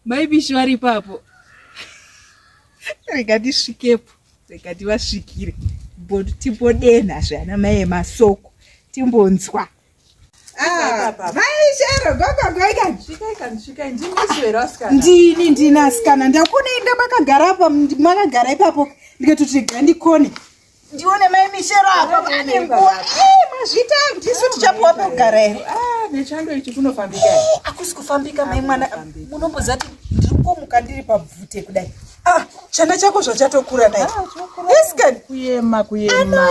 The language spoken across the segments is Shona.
maibishi vari ipapo rega ndisvikepo rega ndivasvikire timbodena zve ana mai emasoko timbonzwa Ah, maishero gogogoikandini ndini asikana ndakunoenda makagara apa makagara ipapo ndikatoti ga ndikone ndione mai mishero apa pane nguva mazvita ndisu tichapuwa pekugara ero ah, nechando ichi kunofambika akusi kufambika mai mwana munombozati ndiri kukomuka ndiri pabvute kudai Ah, chana chako zvachatokura nai iskan ah, kuyema kuyema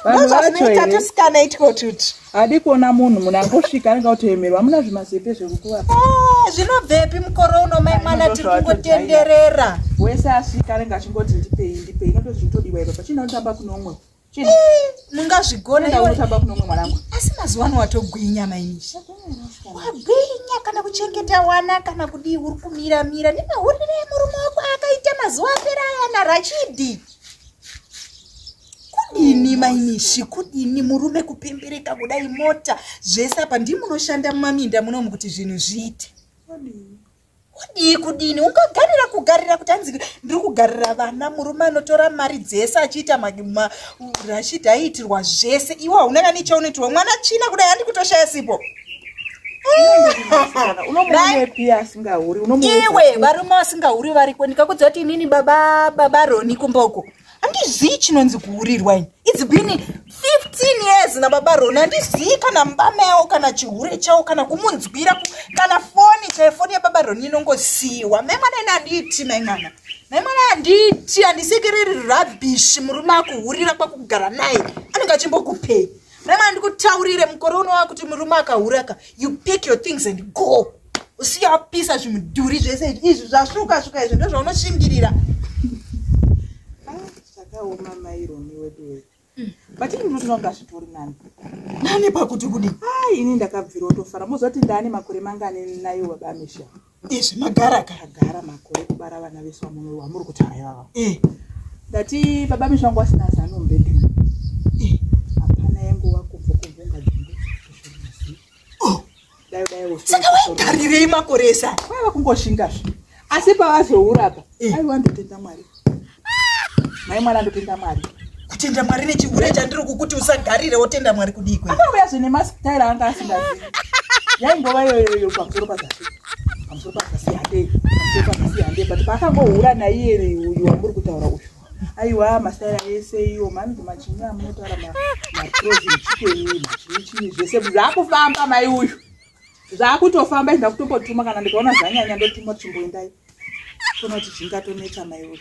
vanhu vacho tosikana itiko tuti hadi kuona munhu munhu angosvika anenge kutoemerwa amuna zvimazepe zvekukuva ah, zvinobvepi mukore uno mai mwana tiri kungotenderera wese asvika anenge achingoti ndipei ndipei inotozvitodiwa ipapo chinootamba kuno umwe mungazvigona ndaunotamba kuno mwe mwanangu asi mazuva ano watogwinya mainishi wagwinya kana kuchengeta wana kana kudii uri kumira mira nemahurire emurume wako akaita mazuva apera aya narachidi kudini mainishi kudini murume kupembereka kudai mota zvese apa ndimunoshanda mumaminda munomu kuti zvinhu zviite kudii kudini ungagarira kugarira kuti hanzi ndiri kugarira vana murume anotora mari dzese achiita marashidha aiitirwa zvese iwe hauna kani chaunoitirwa mwana china kudai handi kutoshaya sipo iwe varume vasingahuri variko ndikakudziva kuti inini baba baba roni kumboko handizii chinonzi kuhurirwa ini its been 15 years nababa roni handizii kana mbama yawo kana chihure chawo kana kumunzwira kana foni chaiyo foni yababa roni inongosiiwa mai mwana ini handiiti mai mwana mai mwana handiiti handisekereri rubbish murume akuhurira kwakugara naye anenge achimbokupei mai mwana ndikutaurire mukore unowa kuti murume akahuraka you pick your things and go usiyapisa zvimudhuri zvese izvi zvasvuka svuka izvi ndozvaunoshingirira zvakaoma ah, maironi wedu wedu mm. but ini ndinotoona kuti azvitori nani nani pakuti kudi ah, ini ndakabvira otofara mozoti ndaane makore mangani nayo baba amisha izvi magara kagara makore kubara vana vese vamuno wamuri kuti hayava eh. ndati baba amisha wangu asina zano mbedhu saka waigarirei makore ese aya vaiva kungoshinga zve asi pavazoura pa eh. aiwa ndotenda mwari mai mwana ndotenda mwari kutenda mwari nechihure chandiri kukuti usagarire wotenda mwari kudii kwe akauya zve nemastyle anga asingazi yaingova iyoyoyo pamusoro pazasi pamusoro pazasi handei pamusoro pazasi handei but paakangohura naiye uyu wamuri kutaura uyu aiwa masaira ese iyo mani kumachini amunotaura maprozi echikwenyu machini chini zvese zvaakufamba mai uyu zvaakutofamba izvida kutongotuma kana ndikaona zvanyanya ndotuma chimboendai tona kuti zvingatonetsa mai uyu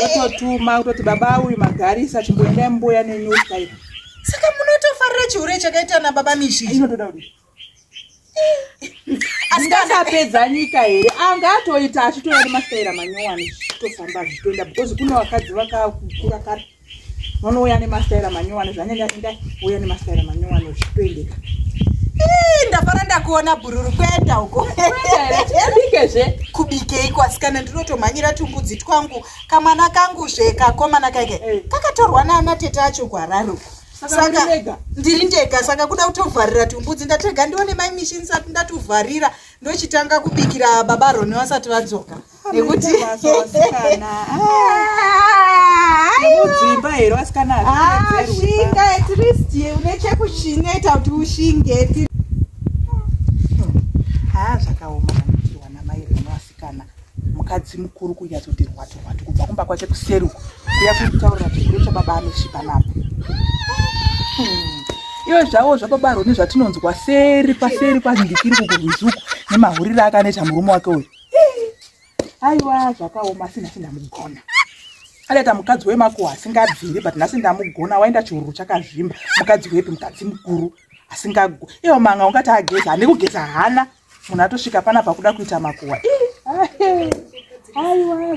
ototuma kutoti baba uyu magarisa chimboendai mumboya nenyuka iyo saka munotofarira chihure chakaita nababa mishi inotoda kudii asikasapedza nyika here anga atoita achitouya nemastaira manyowani zvichitofamba zvichitoenda because kune vakadzi vakakura kare vanouya nemastaira manyowani zvanyanya inda uya nemastaira manyowani zvichitoendeka ndafara ndakuona bhururu kuenda uko bikezve kubikei kwasikana ndinotomhanyira tumbudzi twangu kamwana kangu zve kakomana kaike eh. kakatorwa naana tete acho kwararo saka ndiri ndega saka kuda kutovharira tumbudzi ndatega ndione mai mishi ndisati ndatuvharira ndochitanga kubikira baba roni vasati vadzoka ah, nekuti kana mukadzi mukuru kunyatsoti rwatu rwatu kubva kumba kwake kuseri uko kuya kutaurira chiguru chababa anosvipa napo hmm. iwe zvavo zvababa roni zvatinonzwa seri paseri kwazindikiri kukurwizuku nemahuriro akaneta murume wake uyu aiwa zvakaoma asi nhasi ndamugona adaita mukadzi wemakuwa asingabviri but nhasi ndamugona waenda chihururu chakazvimba mukadzi wepi mukadzi mukuru asingago iwo manga ungati ageza ane kugeza hana munhu atosvika panapa kuda kuita makuhwa aiwa